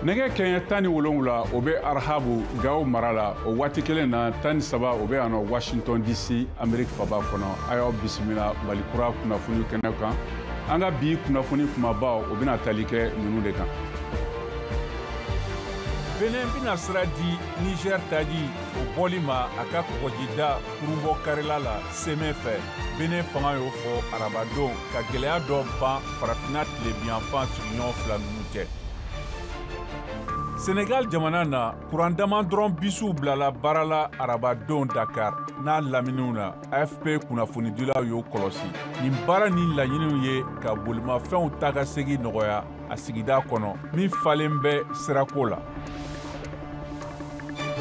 nɛgɛ kɛɲɛ tan ni wolonwula o bɛ arahabu gawo mara la o waati kelen na tan ni saba o bɛ yan nɔ washington dc ameriki faaba kɔnɔ a y'aw bisimila mali kura kunnafoni kɛnɛ kan an ka bi kunnafoni kumabaw o bɛna tali kɛ ninnu de kan benin bɛna sira di niger taji o bɔli ma a ka kɔgɔjida kurunbɔ karila la semɛ fɛ benin fanga y'o fɔ arabadon ka gɛlɛya dɔ ban farafina tilebinyanfan sigiɲɔgɔn fila ninnu cɛ senegal jamana na kuran dama dɔrɔn bisiw bilala baara la arabadon dakar n'a laminiw na afp kunnafonidilaw y'o kɔlɔsi nin baara nin laɲiniw ye ka bolimafɛnw taakasegin nɔgɔya a sigida kɔnɔ min falen bɛ sirako la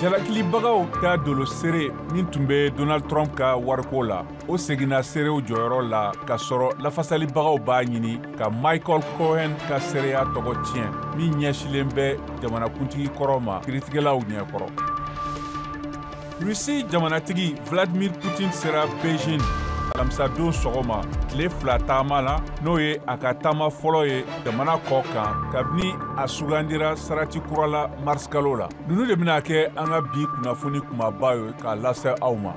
jalakilibagaw ka dolo seere min tun bɛ donald trump ka wariko la o seginna seerew jɔyɔrɔ la ka sɔrɔ lafasalibagaw b'a ɲini ka michael cohen ka seereya tɔgɔ tiɲɛ min ɲɛsilen bɛ jamanakuntigi kɔrɔ ma kiritigɛlaw ɲɛkɔrɔ Rusi jamanatigi Vladimir Putin sera Beijing alamisadon sɔgɔma tile fila taama la n'o ye a ka taama fɔlɔ ye jamana kɔ kan kabini a sugandira sarati kura la marisikalo la ninnu de bɛna kɛ an ka bi kunnafoni kumaba ye k'a lase aw ma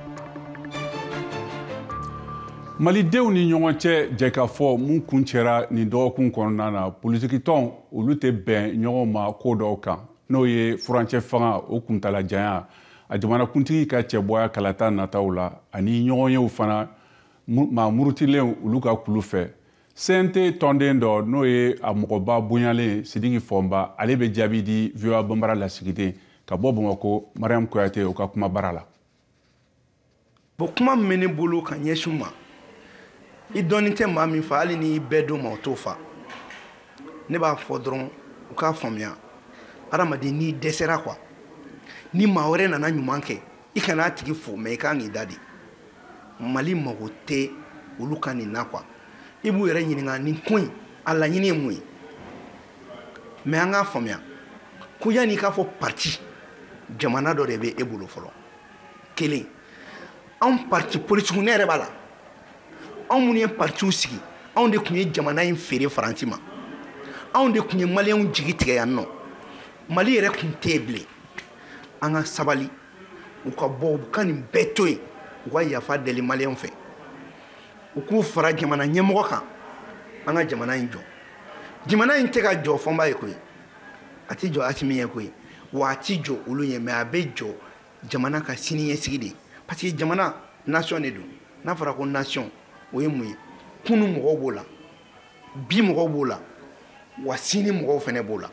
malidenw ni ɲɔgɔn cɛ jɛkafɔ min kuncɛra nin dɔgɔkun kɔnɔna na politikitɔn olu tɛ bɛn ɲɔgɔn ma ko dɔw kan n'o ye furancɛ fanga o kuntalajanya a jamanakuntigi ka cɛbɔya kalata nataw la ani ɲɔgɔnyew fana maa murutilen olu ka kulu fɛ cnt tɔnden dɔ n'o ye a mɔgɔba bonyalen sidiki fɔnba ale bɛ jaabi di voa banbara lasigiden ka bɔ bamakɔ mariam kouyate o ka kumabara la bon kuma min bɛ ne bolo ka ɲɛsin u ma i dɔɔnin tɛ maa min fa hali ni i bɛɛ d'o ma o t'o fa ne b'a fɔ dɔrɔn u k'a faamuya adamaden n'i dɛsɛra quoi ni maa wɛrɛ nana ɲuman kɛ i kana a tigi fo mais i kan k'i da de mali mago tɛ olu ka nin na quoi i b'u yɛrɛ ɲininka nin ko in a laɲini ye mun ye mais an k'a faamuya ko yanni i k'a fɔ parti jamana dɔ de bɛ e bolo fɔlɔ kelen anw parti politikiw ne yɛrɛ b'a la anw minnu ye partiw sigi anw de tun ye jamana in feere faransi ma anw de tun ye maliyɛnw jigi tigɛ yan nɔ mali yɛrɛ tun tɛ yen bilen an ka sabali u ka bɔ u ka nin bɛɛ to yen u ka yafa deli maliyɛnw fɛ u k'u fara jamana ɲɛmɔgɔ kan an ka jamana in jɔ jamana in tɛ ka jɔ fɔnba ye koyi a tɛ jɔ asimi ye koyi wa a tɛ jɔ olu ye mais a bɛ jɔ jamana ka siniɲɛsigi de ye parce que jamana nation de don n'a fɔra ko nation o ye mun ye kunu mɔgɔw b'o la bi mɔgɔw b'o la wa sini mɔgɔw fana b'o la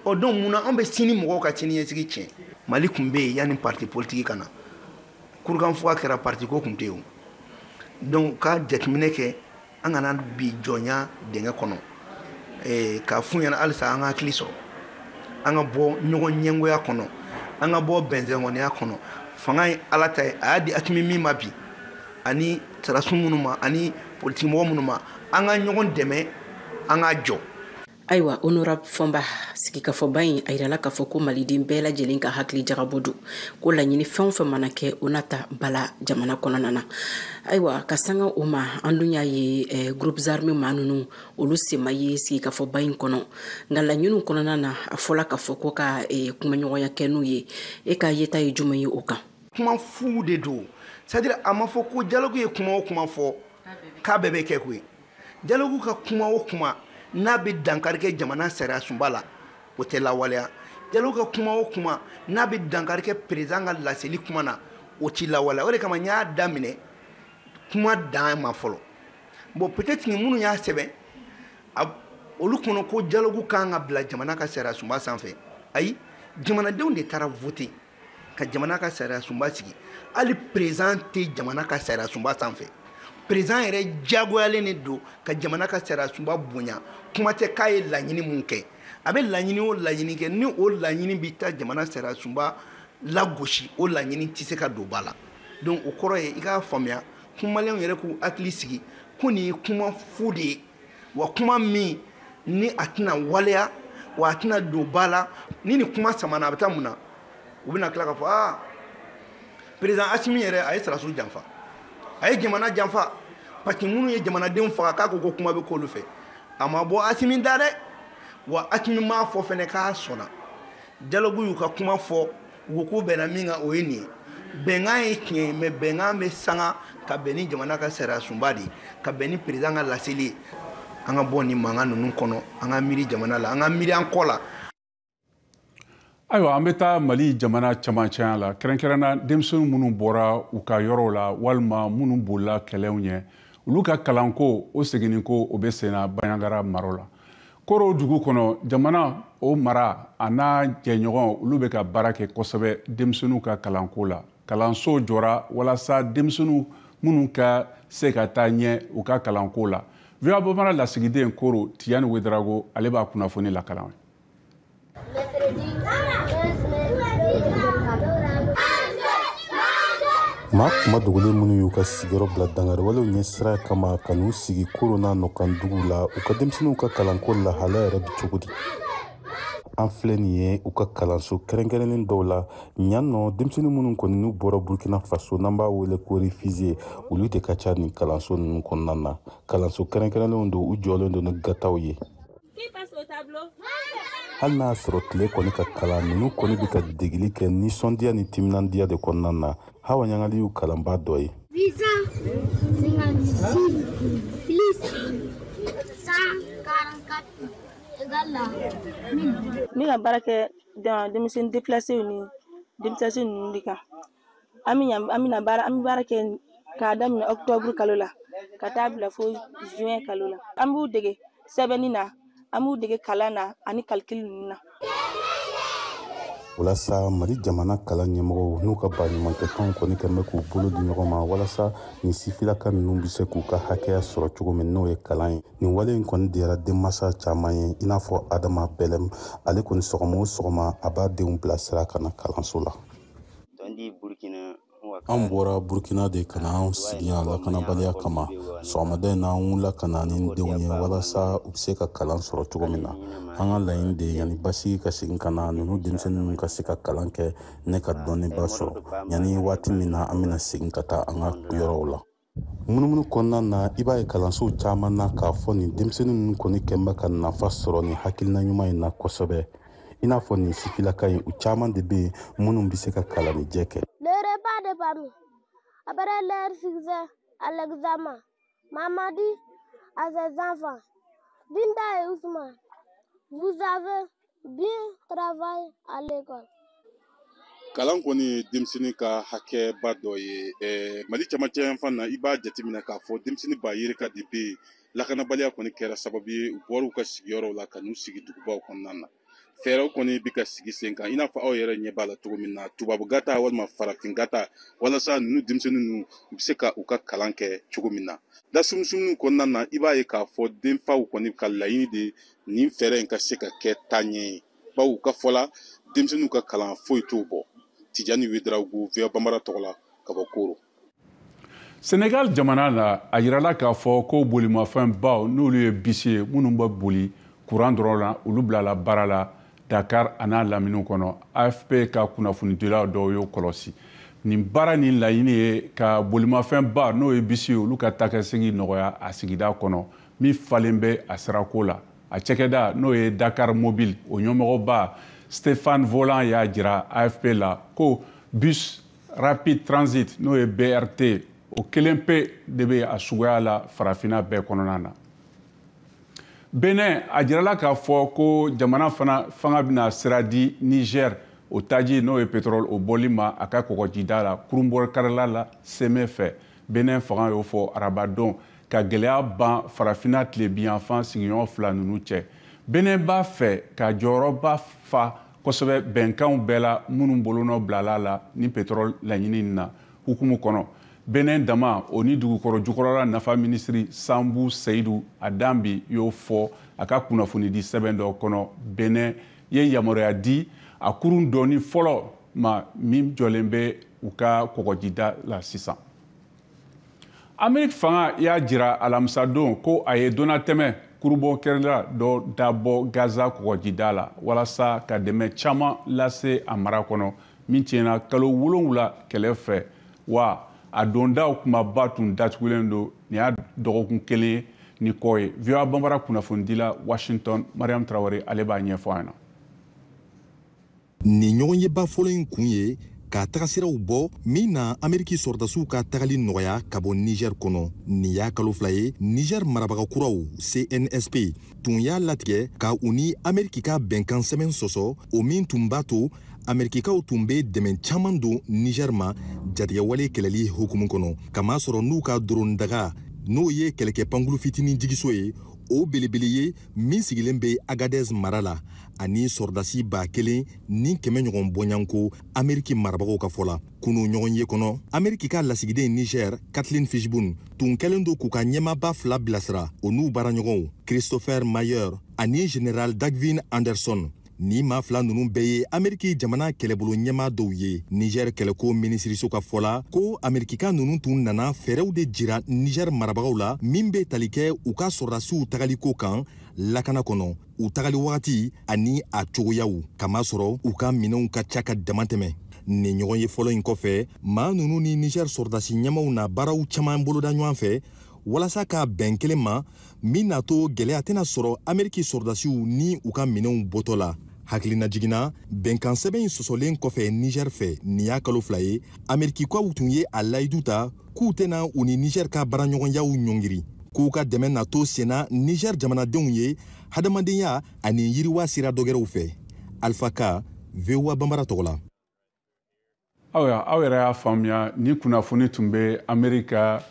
ɔ donc mun na anw bɛ sini mɔgɔw ka siniɲɛsigi tiɲɛ mali tun bɛ yen yanni parti politiki ka na kurukanfuga kɛra parti ko tun tɛ yen o donc u ka jateminɛ kɛ an kana bin jɔnya dingɛ kɔnɔ eh, k'a f'u ɲɛna halisa an ka hakili sɔrɔ an ka bɔ ɲɔgɔn ɲɛngoya kɔnɔ an ka bɔ bɛnsɛnkɔniya kɔnɔ fanga ye ala ta ye a y'a di asimi min ma bi ani sarasu minnu ma ani politikimɔgɔ minnu ma an ka ɲɔgɔn dɛmɛ an ka jɔ ayiwa honorable fɔnba sigikafɔba in a yirala k'a fɔ ko maliden bɛɛ lajɛlen ka hakili jagabɔ don ko laɲini fɛn o fɛn mana kɛ o na ta ba la jamana kɔnɔna na ayiwa ka sanga o ma an dun y'a ye eh, groupes armés maa ninnu olu sen ma ye sigikafɔba in kɔnɔ nka laɲiniw kɔnɔna na a fɔla k'a fɔ ko ka eh, kumaɲɔgɔnya kɛ n'u ye e ka yeta ye juman ye o kan kuma fu de don c'est à dire a ma fɔ ko dialogue ye kuma o kuma fɔ k'a bɛɛ bɛ kɛ koyi Dialogue ka kuma o kuma n'a bɛ dankari kɛ jamana sariyasunba la o tɛ lawaleya dialogue ka kuma o kuma n'a bɛ dankari kɛ perezan ka laseli kuma na o tɛ lawaleya o de kama n y'a daminɛ kuma dan ma fɔlɔ bon peut-être minnu y'a sɛbɛn olu kɔnɔ ko dialogue kan ka bila jamana ka sariyasunba sanfɛ ayi jamanadenw de taara voter ka jamana ka sariyasunba sigi hali perezan tɛ jamana ka sariyasunba sanfɛ perezan yɛrɛ diyagoyalen de don ka jamana ka sariyasunba bonya kuma tɛ k'a ye laɲini mun kɛ a bɛ laɲini o laɲini kɛ ni o laɲini bɛ taa jamana sariyasunba lagosi o laɲini tɛ se ka don ba la donc o kɔrɔ ye i k'a faamuya ko maliyɛnw yɛrɛ k'u hakili sigi ko nin ye kuma fu de ye wa kuma min ni a tɛna waleya wa a tɛna don ba la ni nin kuma samana a bɛ taa mun na u bɛna tila k'a fɔ aa perezan asimi yɛrɛ a ye sarasu janfa a ye jamana janfa parce que minnu ye jamanadenw faga k'a ko ko kuma bɛ k'olu fɛ a ma bɔ asimi da dɛ wa asimi m'a fɔ fɛnɛ k'a sɔnna dialogue y'u ka kuma fɔ U ko bɛnna min kan o ye nin ye bɛnkan ye tiɲɛ ye mɛ bɛnkan bɛ sanga ka bɛn ni jamana ka sariya sunba de ye ka bɛn ni perezan ka laseli ye an ka bɔ ni mankan ninnu kɔnɔ an ka miiri jamana la an ka miiri an kɔ la ayiwa an bɛ taa mali jamana camancɛya la kɛrɛnkɛrɛnna denmisɛnnin minnu bɔra u ka yɔrɔw la walima minnu bolila kɛlɛw ɲɛ olu ka kalanko o seginninko o bɛ senna bandiagara mara la koro dugu kɔnɔ jamana o mara an'a jɛɲɔgɔn olu bɛ ka baara kɛ kosɛbɛ denmisɛnninw ka kalanko la kalansow jɔra walasa denmisɛnnin ninnu ka se ka taa ɲɛ u ka kalanko la voa bambara lasigiden koro tijani wedarago ale b'a kunnafoni lakalan maa kunma dogolen minnu y'u ka sigiyɔrɔ bila dankariwalew ɲɛsiran kama ka n'u sigi koro n'a nɔkan dugu la u ka denmisɛnninw ka kalanko lahala yɛrɛ bi cogo di an filɛ nin ye u ka kalanso kɛrɛnkɛrɛnnen dɔw la ɲan nɔ denmisɛnnin minnu kɔni n'u bɔra burkina faso n'an b'a wele ko réfugié olu de ka ca nin kalanso ninnu kɔnɔna na kalanso kɛrɛnkɛrɛnlenw don u jɔlen don ni gataw ye hali n'a sɔrɔ tile kɔni ka kalan ninnu kɔni bɛ ka degeli kɛ nisɔndiya ni timinandiya de kɔnɔna na hawa ɲangali y'u kalanbaa dɔ ye ne ka baara kɛ denmisɛnnin depilasew ni depilase ninnu de kan an bɛ yan an bɛna baara an bɛ baara kɛ k'a daminɛ octobre kalo la ka taa bila fo juin kalo la an b'u dege sɛbɛnni na an b'u dege kalan na ani calcul ninnu na. walasa mali jamana kalan ɲɛmɔgɔw n'u ka baɲumankɛtɔnw kɔni kɛn bɛ k'u bolo di ɲɔgɔn ma walasa nin sifilaka ninnu bɛ se k'u ka hakɛya sɔrɔ cogo min n'o ye kalan ye nin wale in kɔni diyara denmansa caman ye i n'a fɔ adama bɛlɛm ale kɔni sɔgɔma o sɔgɔma a b'a denw bilasira ka na kalanso la an bɔra burkina de ka na anw sigi yan lakanabaliya kama sɔgɔmada in na an wulila ka na ni denw ye walasa u bɛ se ka kalan sɔrɔ cogo min na an ka laɲini de ye yanni basigi ka segin ka na ninnu denmisɛnnin ninnu ka se ka kalan kɛ ni ka dɔnniba sɔrɔ yanni waati min na an bɛna segin ka taa an ka yɔrɔw la munumunu kɔnɔna na i b'a ye kalansow caman na k'a fɔ nin denmisɛnnin ninnu kɔni kɛn bɛ ka nafa sɔrɔ nin hakilina ɲuman in na kosɛbɛ i n'a fɔ nin sifilaka in u caman de bɛ yen minnu bɛ se ka kalannijɛ kɛ Après leur succès à l'examen, maman dit à ses enfants, Binta et Ousmane, vous avez Bien travaillé à l'école. kalan kɔni ye denmisɛnnin ka hakɛba dɔ ye eh, mali camancɛ yan fan na i b'a jateminɛ k'a fɔ denmisɛnnin ba yirika de bɛ lakanabaliya kɔni kɛra sababu ye u bɔr'u ka sigiyɔrɔw la ka n'u sigi dugubaw kɔnɔna na fɛɛrɛw kɔni bɛ ka sigi sen kan i n'a fɔ aw yɛrɛ ɲɛ b'a la cogo min na tubabu gata walima farafin gata walasa ninnu denmisɛnnin ninnu u bɛ se ka u ka kalan kɛ cogo min na lasumusumuniw kɔnɔna na i b'a ye k'a fɔ denfaw kɔni ka laɲini de nin fɛɛrɛ in ka se ka kɛ taaɲɛ ye bawo u ka fɔ la denmisɛnninw ka kalan foyi t'o bɔ tijani wedarago voa banbara tɔgɔ la ka bɔ koro senegal jamana la a yirala k'a fɔ ko bolimafɛn baw n'olu ye bisi ye minnu bɛ boli kuran dɔrɔn na olu bilala baara la dakar an'a laminiw kɔnɔ afp ka kunnafonidilaw dɔw y'o kɔlɔsi nin baara nin laɲini ye ka bolimafɛn ba n'o ye bisi ye olu ka taakasegin nɔgɔya a sigida kɔnɔ min falen bɛ a sirako la a cɛkɛda n'o ye dakar mobile o ɲɛmɔgɔba stéphane volant y'a jira afp la ko bus rapid transit n'o ye brt o kelen pe de bɛ a suguya la farafina bɛɛ kɔnɔna na benin a jirala k'a fɔ ko jamana fana fanga bɛna sira di niger o taji n'o ye pétrole o bɔli ma a ka kɔgɔjida la kurunbonkarila la seme fɛ benin fanga y'o fɔ arabadon ka gɛlɛya ban farafina tilebiyanfan sigiɲɔgɔn fila ninnu cɛ benin b'a fɛ ka jɔyɔrɔba fa kosɛbɛ bɛnkanw bɛɛ la minnu bolonɔ bilala la ni petrɔl laɲini na hukumu kɔnɔ benin daman o ni dugukɔrɔ jukɔrɔla nafa minisiri samu seyidu adanbi y'o fɔ a ka kunnafonidi sɛbɛn dɔ kɔnɔ benin ye yamaruya di a kurun doni fɔlɔ ma min jɔlen bɛ u ka kɔgɔjida la sisan ameriki fanga y'a jira alamisadon ko a ye donnatɛmɛ kurunbonkarila dɔ dabɔ gaza kɔgɔjida la walasa ka dɛmɛ caman lase a mara kɔnɔ min tiɲɛna kalo wolonwula kɛlɛ fɛ wa a dondaw kunbaba tun datugulen don nin y'a dɔgɔkun kelen ye ni kɔ ye voa banbara kunnafonidila washington mariam traoré ale b'a ɲɛfɔ an na nin ɲɔgɔnyeba fɔlɔ in kun ye ka tagasiraw bɔ min na ameriki sɔrɔdasiw ka tagali nɔgɔya ka bɔ niger kɔnɔ nin y'a kalo fila ye niger marabaga kuraw cnsp tun y'a latigɛ ka u ni ameriki ka bɛnkan sɛbɛn sɔsɔ o min tun b'a to amerikikaw tun bɛ dɛmɛ caman don niger ma jatigɛwale kɛlɛli hukumu kɔnɔ k'a masɔrɔ n'u ka doron daga n'o ye kɛlɛkɛ pankulu fitinin jigiso ye o belebele ye min sigilen bɛ agadez mara la ani sɔrɔdasi ba kelen ni kɛmɛ ɲɔgɔn bɔɲanko ameriki marabagaw ka fɔ la kunu ɲɔgɔnye kɔnɔ ameriki ka lasigiden niger kathleen fitzgibbon tun kɛlen don k'u ka ɲɛmaaba fila bilasira o n'u baaraɲɔgɔnw christopher maier ani general dagvin anderson nin maa fila ninnu bɛɛ ye ameriki jamana kɛlɛbolo ɲɛmaa dɔw ye niger kɛlɛko minisiriso ka fɔ la ko amerikika ninnu tun nana fɛɛrɛw de jira niger marabagaw la min bɛ tali kɛ u ka sɔrɔdasiw tagaliko kan lakana kɔnɔ u tagali wagati ani a cogoyaw k'a masɔrɔ u ka minɛnw ka ca ka damatɛmɛ nin ɲɔgɔnye fɔlɔ in kɔfɛ maa ninnu ni niger sɔrɔdasi ɲɛmaaw na baaraw caman boloda ɲɔgɔn fɛ walasa ka bɛn kelen ma min n'a to gɛlɛya tɛna sɔrɔ ameriki sɔrɔdasiw ni u ka minɛnw bɔtɔ la hakilinajigin na bɛnkansɛbɛn in sɔsɔlen kɔfɛ niger fɛ nin y'a kalo fila ye amerikikaw tun ye a layidu ta k'u tɛna u ni niger ka baaraɲɔgɔnyaw ɲɔngiri k'u ka dɛmɛ na to senna niger jamanadenw ye hadamadenya ani yiriwa sira dɔgɛrɛw fɛ alfa ka voa banbara tɔgɔ la aw y'a faamuya nin kunnafoni tun bɛ amerika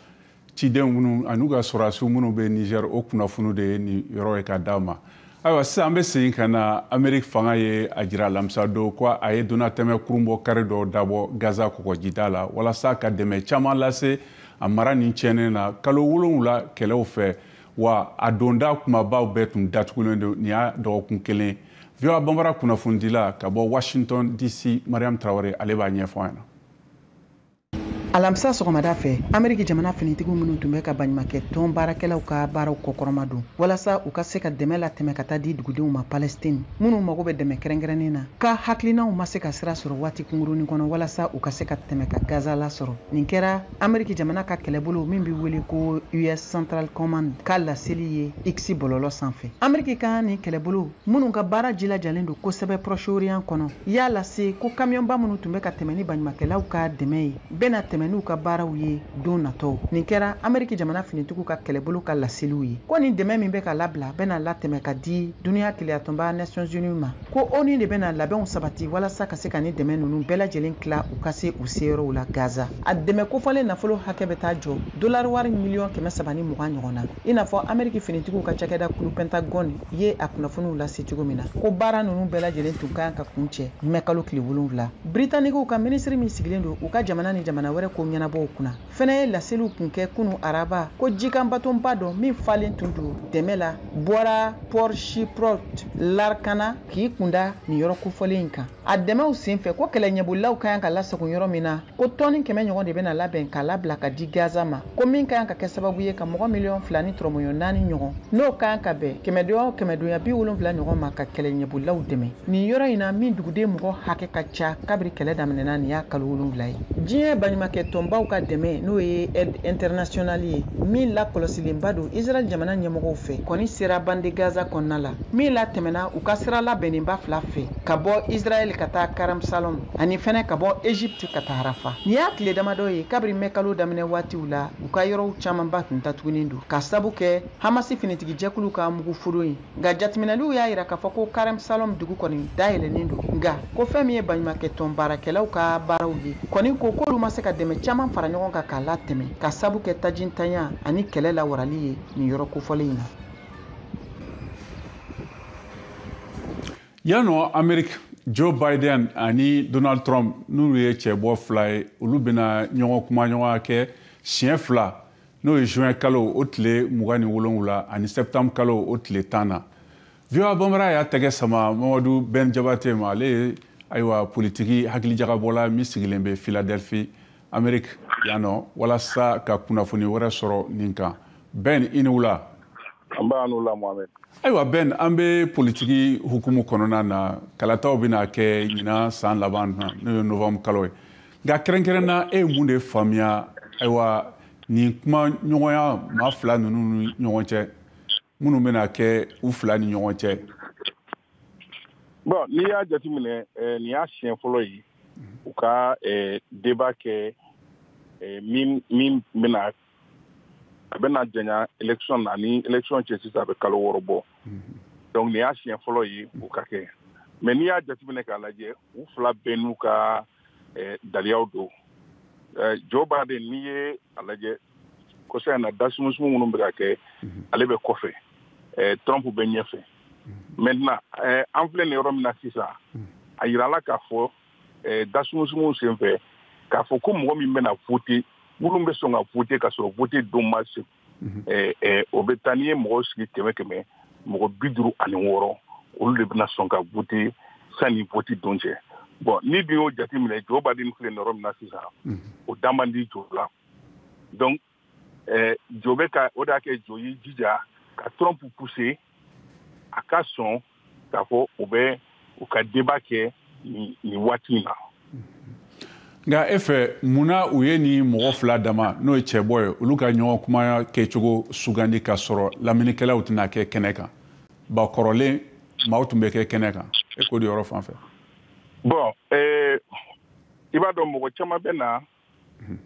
ciden minnu an'u ka sɔrɔdasiw minnu bɛ niger o kunnafoni de ye nin yɔrɔ ye ka d'a ma ayiwa sisan an bɛ segin ka na ameriki fanga ye a jira alamisa don ko a ye donatɛmɛ kurun bɔ kari dɔ dabɔ gaza kɔgɔjida la walasa ka dɛmɛ caman lase a mara nin tiɲɛnen na kalo wolonwula kɛlɛw fɛ wa a donda kumabaw bɛɛ tun datugulen don nin y'a dɔgɔkun kelen voa banbara kunnafonidila ka bɔ washington dc mariam traoré ale b'a ɲɛfɔ an ɲɛna alamisa sɔgɔmada fɛ ameriki jamana finitigiw minnu tun bɛ ka baɲumakɛ tɔn baarakɛlaw ka baaraw kɔkɔrɔmadon walasa u ka se ka dɛmɛ latɛmɛ ka taa di dugudenw ma palestine minnu mago bɛ dɛmɛ kɛrɛnkɛrɛnnen na ka hakilinaw ma se ka sira sɔrɔ waati kungurunin kɔnɔ walasa u ka se ka tɛmɛ ka gaza lasɔrɔ nin kɛra ameriki jamana ka kɛlɛbolo min bɛ wele ko us central command ka laseli ye x bɔlɔlɔ sanfɛ ameriki ka nin kɛlɛbolo minnu ka baara jilajalen don kosɛbɛ proche-orient kɔnɔ y'a lase ko kamiyɔnba minnu tun bɛ ka tɛmɛ ni baɲumakɛlaw ka dɛmɛ ye bɛna tɛmɛ n'u ka baaraw ye don natɔw nin kɛra ameriki jamana finitigiw ka kɛlɛbolo ka laseliw ye ko nin dɛmɛ min bɛ ka labila bɛna latɛmɛ ka di duniya kelenyatɔnba nations unies ma ko onu de bɛna labɛnw sabati walasa ka se ka nin dɛmɛ ninnu bɛɛ lajɛlen tila u ka se u seyɔrɔw la gaza a dɛmɛ kofɔlen nafolo hakɛ bɛ taa jɔ dolariwari miliyɔn kɛmɛ saba ni mugan ɲɔgɔn na i n'a fɔ ameriki finitigiw ka cakɛda kulu pentagone ye a kunnafoniw lase cogo min na ko baara ninnu bɛɛ lajɛlen tun kan ka kuncɛ mɛ kalo tile wolonwula britanikiw ka minisiri min sigilen don u ka jamana ni jamana wɛrɛ ko ɲɛnabɔw kunna fɛnɛ ye laseliw kun kɛ kunu araba ko jikan batonba dɔ min falen tun don dɛmɛ la bɔra port chypriote larkana k'i kunda nin yɔrɔ kofɔlen in kan a dɛmɛw senfɛ ko kɛlɛɲɛbolilaw ka kan ka lasago yɔrɔ min na ko tɔni kɛmɛ ɲɔgɔn de bɛna labɛn ka labila ka di gaza ma ko min ka kan ka kɛ sababu ye ka mɔgɔ miliyɔn fila ni tɔrɔmɔɲɔ naani ɲɔgɔn n'o ka kan ka bɛn kɛmɛdonya o kɛmɛdonya bi wolonfila ɲɔgɔn ma ka kɛlɛ ɲɛbolilaw dɛmɛ nin yɔrɔ in na min duguden mɔgɔ hakɛ ka ca kabiri kɛlɛ daminɛna nin y'a kalo wolonfila ye diɲɛ baɲumakɛ tɔnbaw ka dɛmɛ n'o ye aide internationale ye min lakɔlɔsilenba don israɛl jamana ɲɛmɔgɔw fɛ kɔni sera bande gaza kɔnɔna la min latɛmɛna u ka sira labɛnnenba fila fɛ ka bɔ israɛl ka taa karamsalɔm ani fɛnɛ ka bɔ egypte ka taa rafa nin y'a tile damadɔ ye kabiri mɛ kalo daminɛ waatiw la u ka yɔrɔw caamanba tun tatugunin don ka sabu kɛ hamasi finitigi jɛkulu ka mugu foro ye nka jatiminɛliw y'a yira k'a fɔ ko karamsalɔm dugu kɔni dayɛlɛnnen don nka ko fɛn min ye baɲumakɛ tɔn baarakɛlaw ka baaraw ye kɔni ko k'olu ma se ka dɛmɛ caaman fara ɲɔgɔn kan k'a latɛmɛ ka sabu kɛ tajintanya ani kɛlɛ lawarali ye nin yɔrɔ kofɔlen in na yan nɔ ameriki joe biden ani donald trump n'olu ye cɛbɔ fila ye olu bɛna ɲɔgɔn kuma ɲɔgɔnya kɛ siɲɛ fila n'o ye juin kalo o tile mugan ni wolonwula ani septembre kalo o tile tan na voa bambara y'a tɛgɛ sama mamadu ben jabate ma ale ye ayiwa politiki hakilijagabɔla min sigilen bɛ philadelphie ameriki yan nɔ walasa ka kunnafoni wɛrɛ sɔrɔ nin kan ben i ni wula nba i ni wula mohamɛd ayiwa ben an bɛ politiki hukumu kɔnɔna na kalataw bɛna kɛ ɲinan san laban na n'o ye novanburu kalo ye nka kɛrɛnkɛrɛn na e ye mun de faamuya ayiwa nin kuma ɲɔgɔnya maa fila ninnu ni ɲɔgɔn cɛ minnu bɛna kɛ u fila ni ɲɔgɔn cɛ bon n'i y'a jateminɛ eh, nin y'a siɲɛ fɔlɔ ye u ka eh, débat kɛ eh, min bɛna a bɛna janya election na ni election cɛ sisan a bɛ kalo wɔɔrɔ bɔ donc nin y'a siɲɛ fɔlɔ ye u k'a kɛ mais n'i y'a jateminɛ k'a lajɛ u fila bɛɛ n'u ka eh, daliyaw don eh, joe biden n'i ye a lajɛ kɔsa in na dasumusumu minnu bɛ ka kɛ ale bɛ kɔfɛ eh, trump bɛ ɲɛfɛ maintenant eh, an filɛ nin yɔrɔ min na sisan a yirala k'a fɔ eh, dasumusumuw sen fɛ k'a fɔ ko mɔgɔ min bɛna vote minnu bɛ sɔn ka vote ka sɔrɔ vote don ma se mhm. eh, eh, o bɛ taa n'i ye mɔgɔw sigi kɛmɛ kɛmɛ mɔgɔ bi duuru ani wɔɔrɔ olu de bɛna sɔn ka vote sanni vote don cɛ bon n'i dun y'o jateminɛ joe biden filɛ nin yɔrɔ min na sisan mhm. o da man di joe la donc eh, joe bɛ ka o de y'a kɛ joe y'i jija ka trump pousser a ka sɔn k'a fɔ u bɛ u ka débat kɛ nin waati in na nka e fɛ mun na u ye nin mɔgɔ fila dama n'o ye cɛbɔ ye olu ka ɲɔgɔn kumaya kɛcogo sugandi ka sɔrɔ lamɛnnikɛlaw tɛna kɛ kɛnɛ kan ba kɔrɔlen maaw tun bɛ kɛ kɛnɛ kan e ko di o yɔrɔ fan fɛ bon eh, i b'a dɔn mɔgɔ caman bɛ na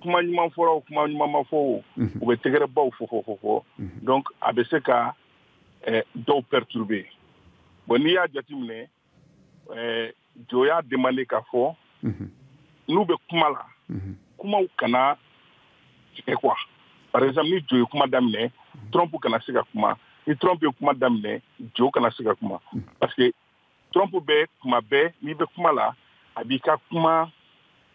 kuma ɲuman fɔra o kuma ɲuman ma fɔ o u bɛ tɛgɛrɛbaw fɔ fɔ fɔ fɔ donc a bɛ se ka eh, dɔw perturber bon n'i y'a jateminɛ eh, joe y'a demandé k'a fɔ n'u bɛ kuma la kumaw kana tigɛ quoi par exemple ni joe ye kuma daminɛ trump kana se ka kuma ni trump ye kuma daminɛ joe kana se ka kuma parce que trump bɛ kuma bɛɛ n'i bɛ kuma la a b'i ka kuma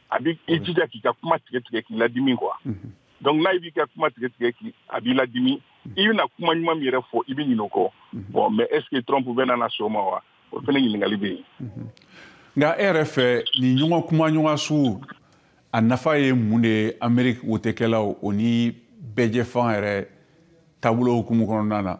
a bɛ i jija k'i ka kuma tigɛ tigɛ k'i ladimi quoi mhm. donc n'a b'i ka kuma tigɛ tigɛ k'i a b'i ladimi mhm. i bɛna kuma ɲuman min yɛrɛ fɔ i bɛ ɲinɛ o kɔ mhm. bon mais est ce que trump bɛna na sɔn o ma wa o fana ɲininkali bɛ yen nka e yɛrɛ fɛ nin ɲɔgɔn kuma ɲɔgɔn sugu a nafa ye mun de ye ameriki wotekɛlaw o ni bɛɛjɛfanga yɛrɛ taabolo hukumu kɔnɔna na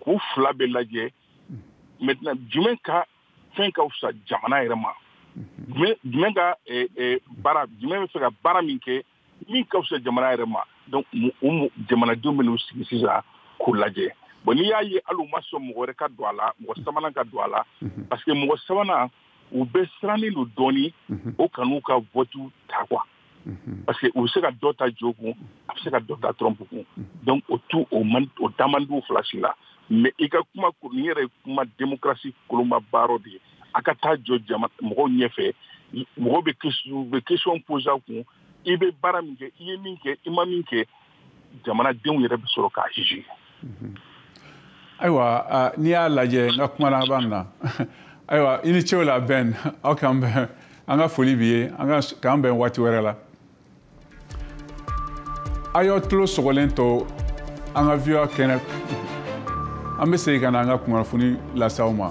k'u fila bɛɛ lajɛ maintenant jumɛn ka fɛn ka fisa jamana yɛrɛ ma jumɛn ka eh, eh, baara jumɛn bɛ fɛ ka baara min kɛ min ka fisa jamana yɛrɛ ma donc u jamanadenw bɛn'u sigi sisan k'u lajɛ bon n'i y'a ye hali u ma sɔn mɔgɔ wɛrɛ ka don a la mɔgɔ sabanan ka don a la mhm. parce que mɔgɔ sabanan u bɛ sirannen don dɔɔni mhm. o kan'u ka vote ta quoi mhm. parce que u bɛ se ka dɔ ta joe kun a bɛ se ka dɔ ta trump kun mhm. donc o tu o man o da man d'u fila si la mais i ka kuma nin yɛrɛ ye kuma démocratie kolomaba dɔ de ye a ka taa jɔ jama mɔgɔw ɲɛfɛ mɔgɔw bɛ bɛ question poser a kun i bɛ baara min kɛ i ye min kɛ i ma min kɛ jamanadenw yɛrɛ bɛ sɔrɔ k'a juger mhm. ayiwa n'i y'a lajɛ n ka kuma laban na ayiwa i ni ce o la ben aw k'an bɛn an ka foli b'i ye an k'an bɛn waati wɛrɛ la a y'aw tulo sɔgɔlen to an ka voa kɛnɛ an bɛ segin ka na an ka kunnafoni lase aw ma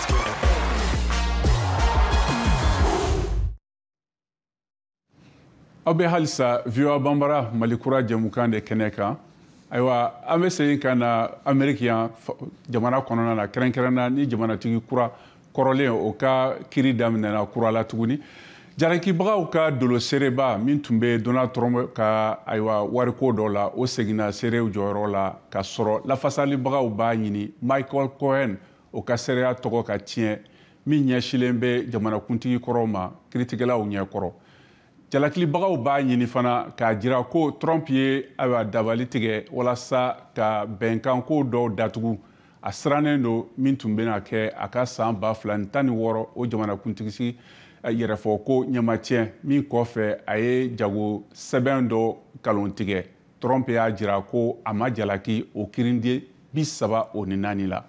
aw bɛ halisa voa banbara mali kura jɛmukan de kɛnɛ kan ayiwa an bɛ segin ka na ameriki yan jamana kɔnɔna na kɛrɛnkɛrɛnna ni jamanatigi kura kɔrɔlen o ka kiri daminɛna kura la tuguni jalakibagaw ka dolo seereba min tun bɛ donald trump ka ayiwa wariko dɔ la o seginna seerew jɔyɔrɔ la ka sɔrɔ lafasalibagaw b'a ɲini michael cohen o ka seereya tɔgɔ ka tiɲɛ min ɲɛsilen bɛ jamanakuntigi kɔrɔ ma kiritigɛlaw ɲɛ kɔrɔ jalakilibagaw b'a ɲini fana k'a jira ko trump ye ayiwa dabali tigɛ walasa ka bɛnkanko dɔw datugu a sirannen don min tun bɛna kɛ a ka san ba fila ni tan ni wɔɔrɔ o jamanakuntigisi eh, yɛrɛfɔko ɲɛmatiɲɛ min kɔfɛ a ye jago sɛbɛn dɔ kalon tigɛ trump y'a jira ko a ma jalaki o kirinde bi saba o ni naani la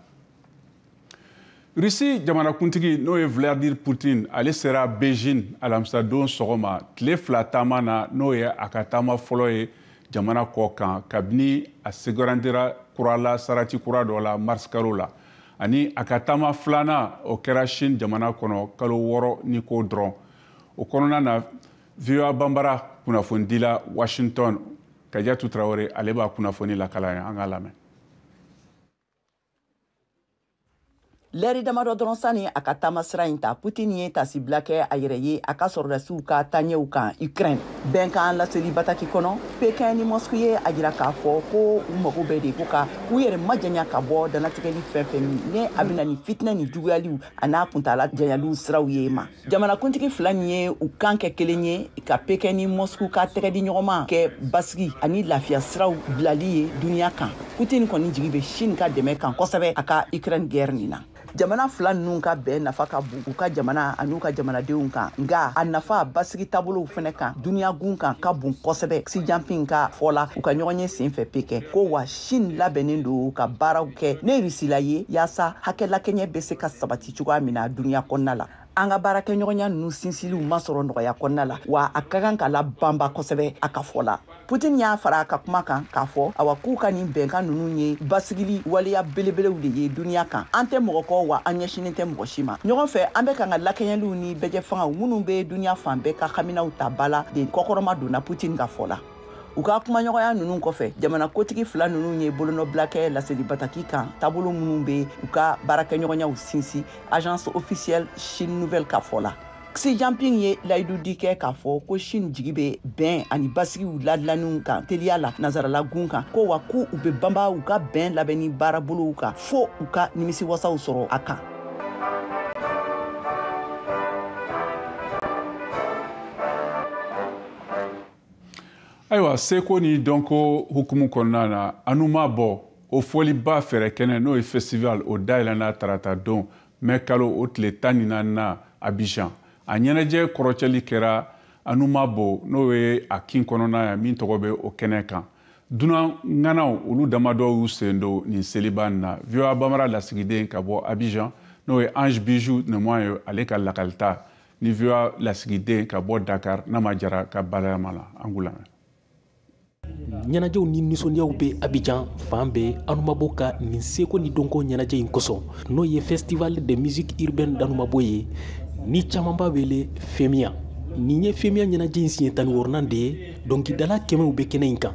russie jamanakuntigi n'o ye vladimir putin ale sera beijing alamisadon sɔgɔma tile fila taama na n'o ye a ka taama fɔlɔ ye jamana kɔkan kabini a sugandira kurala sarati kura dɔ la mars kalo la ani a ka taama filanan o kɛra chine jamana kɔnɔ kalo wɔɔrɔ ni kɔ dɔrɔn o kɔnɔna na voa banbara kunnafonidila washington kajatu tarawele ale b'a kunnafoni lakal'an ye an k'a lamɛn lɛri damadɔ dɔrɔn sani a ka taama sira in ta putin ye taasibila kɛ a yɛrɛ ye a ka sɔrɔdasiw ka taaɲɛw kan ukraine bɛnkan laseli bataki kɔnɔ pekin ni mɔsku ye a jira k'a fɔ ko u mago bɛ de ko ka u yɛrɛ majanya ka bɔ danatigɛli fɛn fɛn min ni a bɛ na ni fitinɛ ni juguyaliw an'a kuntaala janyaliw siraw ye ma jamanakuntigi fila nin ye u kan kɛ kelen ye ka pekin ni mɔsku ka tɛgɛdiɲɔgɔnma kɛ basigi ani lafiya siraw bilali ye duniɲa kan putin kɔni jigi bɛ chine ka dɛmɛ kan kosɛbɛ a ka ukraine gɛrɛ nin na jamana fila ninnu ka bɛn nafa ka bon u ka jamana an'u ka jamanadenw kan nka a nafa basigi taabolow fɛnɛ kan duniyagun kan ka bon kosɛbɛ xi jinping ka fɔ la u ka ɲɔgɔnye sen fɛ pekin ko wa chine labɛnnen don ka baaraw kɛ ni rusila ye yaasa hakɛ lakɛɲɛ bɛ se ka sabati cogoya min na duniya kɔnɔna la an ka baarakɛɲɔgɔnya ninnu sinsiliw ma sɔrɔ nɔgɔya kɔnɔna la wa a ka kan ka labanba kosɛbɛ a ka fɔ la putin y'a fara a ka kuma kan k'a fɔ awa k'u ka nin bɛnkan ninnu ye basigili waleya belebelew de ye duniya kan an tɛ mɔgɔ kɔ wa an ɲɛsinnen tɛ mɔgɔ si ma ɲɔgɔn fɛ an bɛ kan ka lakɛɲɛliw ni bɛjɛfangaw minnu bɛ duniya fan bɛɛ ka haminaw ta ba la de kɔkɔrɔmadon na putin ka fɔ la u ka kumaɲɔgɔnya ninnu kɔfɛ jamana kotigi fila ninnu ye bolonɔbila kɛ laseli bataki kan taabolo minnu bɛ u ka baarakɛɲɔgɔnyaw sinsin agence officielle chine nouvelle ka fɔ la Xi Jinping ye layidudi kɛ k'a fɔ ko Chine jigi bɛ bɛn ani basigiw ladilanniw kan teliya la nanzaralagun kan ko wa ko u bɛ banba u ka bɛn labɛnni baarabolow kan fo u ka nimisiwasaw sɔrɔ a kan ayiwa seko ni dɔnko hukumu kɔnɔna na anumabɔ o fɔliba fɛɛrɛ kɛnɛ n'o ye festival o dayɛlɛnna tarata don mɛ kalo o tile tan ni naaninan abijan a ɲɛnajɛ kɔrɔcɛli kɛra anumabɔ n'o ye a kin kɔnɔna ye min tɔgɔ bɛ o kɛnɛ kan dunan ŋanaw olu damadɔ y'u sen don nin seliba in na voa bambara lasigiden ka bɔ abijan n'o ye ange bijou nemoin ye ale ka lakalita ni voa lasigiden ka bɔ dakar nama jara ka balayama la an k'u lamɛn ɲɛnajɛw ni nisɔndiyaw bɛ abijan fan bɛɛ anumabɔ ka nin seko ni dɔnko ɲɛnajɛ in kosɔn n'o ye festival de musique urbaine d'anumabɔ ye ni caman b'a wele femiya nin ye femiya ɲɛnajɛ in siɲɛ tan ni wɔɔrɔnan de ye dɔnkilidala kɛmɛw bɛ kɛnɛ in kan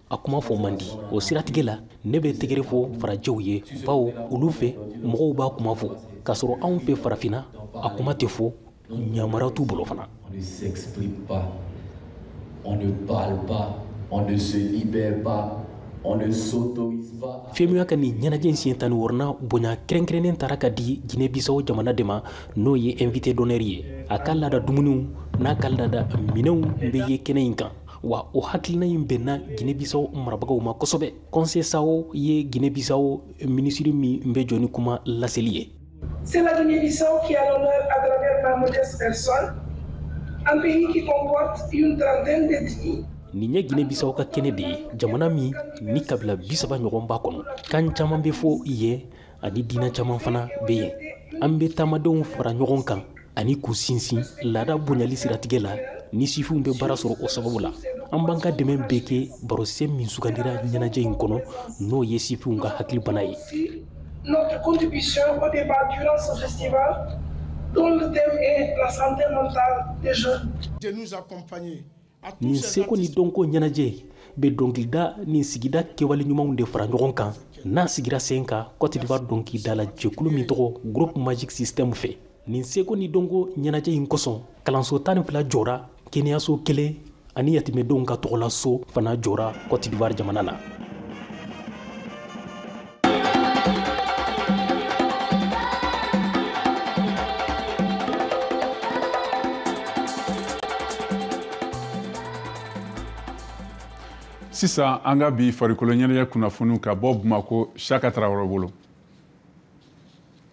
a kuma fɔ man di o siratigɛ la ne bɛ tɛgɛrɛ fɔ farajɛw ye bawo olu fɛ mɔgɔw b'a kuma fɔ k'a sɔrɔ anw fɛ farafinna a kuma tɛ fɔ yamaruya t'u bolo fana femuya ka nin ɲɛnajɛ in siɲɛ tan ni wɔɔrɔnan bonya kɛrɛnkɛrɛnnen taara ka di gine bisawo jamana de ma n'o ye invité d'honneur ye a ka laada dumuniw n'a ka laada minɛnw bɛ ye kɛnɛ in kan wa o hakilina in bɛnna gine bisawo marabagaw ma kosɛbɛ kɔnsesao ye gine bisawo minisiri min bɛ jɔ ni kuma laseli ye nin ye gine bisawo ka kɛnɛ de ye jamana min ni kabila bisaba ɲɔgɔn b'a kɔnɔ kan caman bɛ fɔ yen ani diinɛ caman fana bɛ yen an bɛ taamadenw fara ɲɔgɔn kan ani k'u sinsin laada bonyali siratigɛ la ni sifinw bɛ baara sɔrɔ o sababu la an b'an ka dɛmɛ bɛɛ kɛ barosen min sugandira ɲɛnajɛ in kɔnɔ n'o ye sifinw ka hakili bana ye Notre contribution au débat durant ce festival, dont le thème est la santé mentale des jeunes. De nous accompagner nin seko ni dɔnko ɲɛnajɛ bɛ dɔnkilida ni sigida kɛwale ɲumanw de fara ɲɔgɔn kan n'a sigira sen kan kɔtidiwari dɔnkilidala jɛkulu min tɔgɔ groupe magic system fɛ nin seko ni dɔnko ɲɛnajɛ in kosɔn kalanso tan ni fila jɔra kɛnɛyaso kelen ani yatimɛdenw ka tɔgɔla so fana jɔra kɔtidiwari jamana na sisan an ka bi farikolo ɲɛnajɛ kunnafoniw ka bɔ bamako siaka tarawele bolo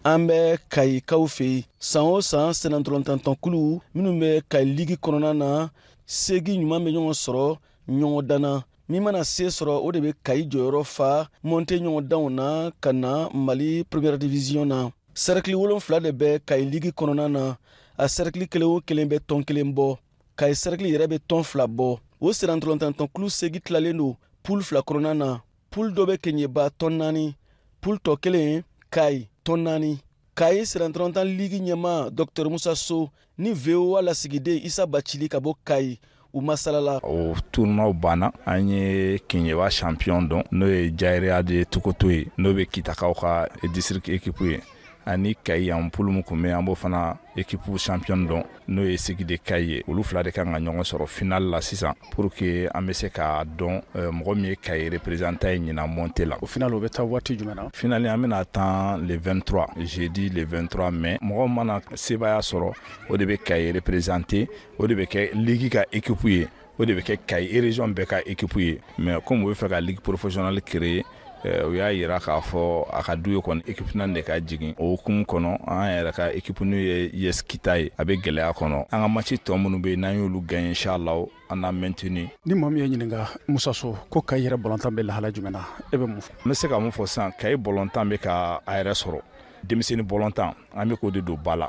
an bɛ kayikaw fɛ yen san o san sennantolantan tɔnkulu minnu bɛ kayi ligi kɔnɔna na seegin ɲuman bɛ ɲɔgɔn sɔrɔ ɲɔgɔndan na min mana se sɔrɔ o de bɛ kayi jɔyɔrɔ fa mɔnte ɲɔgɔndanw na ka na mali première division na sɛrɛkili wolonfila de bɛ kayi ligi kɔnɔna na a sɛrɛkili kelen o kelen bɛ tɔn kelen bɔ kayi sɛrɛkili yɛrɛ bɛ tɔn fila bɔ o sennantolatantɔn kulu segi tilalen don pul fila kɔnɔna na pul dɔ bɛ keɲeba tɔn naani pul tɔ kelen kayi tɔn naani kayi sennantolatan ligi ɲɛmaa dɔktɛr musa so ni voa lasigiden isa bacili ka bɔ kayi u masalala o tournoi banna an ye keɲeba champion dɔn n'o ye jayiriya de tokoto ye n'o bɛ kitakaw ka district ekipu ye ani kayi yan pul mun kun bɛ an b'o fana ekipu champion dɔn n'o ye sigi de kayi ye olu fila de kan ka ɲɔgɔn sɔrɔ final la sisan pour que an bɛ se k'a dɔn euh, mɔgɔ min ye kayi représentant ye ɲinan monte la o final o bɛ taa waati jumɛn na final an bɛna tan le 23 jeudi le 23 mai mɔgɔ mana sebaaya sɔrɔ o de bɛ kayi représenter o de bɛ kɛ ligi ka équipe ye o de bɛ kɛ kayi région bɛɛ ka ekip ye mɛ kɔmi u bɛ fɛ ka ligi professionnelle créer eh, u y'a jira k'a fɔ a ka du ye kɔni ekip naani de ka jigin o hukumu kɔnɔ an yɛrɛ ka ekip n'o ye us kita ye a bɛ gɛlɛya kɔnɔ an ka match tɔ minnu bɛ yen n'an y'olu gagner inchallah an na maintenir ni maa min y'i ɲininka musa so ko kayi yɛrɛ bɔlɔntan bɛ lahala jumɛn na e bɛ mun fɔ n bɛ se ka mun fɔ sisan kayi bɔlɔntan bɛ ka a yɛrɛ sɔrɔ denmisɛnnin bɔlɔntan an bɛ k'o de don ba la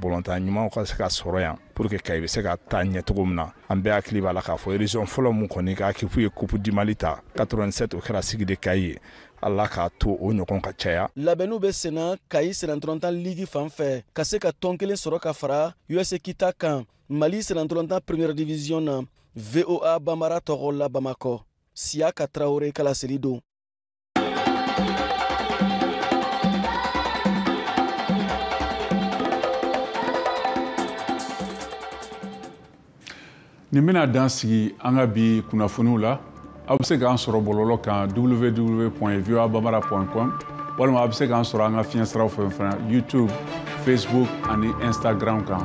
bɔlɔntan ɲumanw ka se ka sɔrɔ yan pour que kayi bɛ se ka taa ɲɛ cogo min na an bɛɛ hakili b'a la k'a fɔ région fɔlɔ min kɔni ka ekip ye kup di mali ta 87 o kɛra sigi de kayi ye ala k'a to o ɲɔgɔn ka caya labɛnniw bɛ senna kayi sennantolatan ligi fan fɛ ka se ka tɔn kelen sɔrɔ ka fara us kita kan mali sennantolatan première division na voa banbara tɔgɔ la bamakɔ siyaka tarawele ka laseli don nin bɛna dan sigi an ka bi kunnafoniw la aw bɛ se k'an sɔrɔ bɔlɔlɔ kan www voa bambara com walima aw bɛ se k'an sɔrɔ an ka fiɲɛ siraw fɛ fana youtube facebook ani instagram kan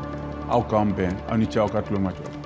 aw k'an bɛn aw ni ce aw ka tulomajɔ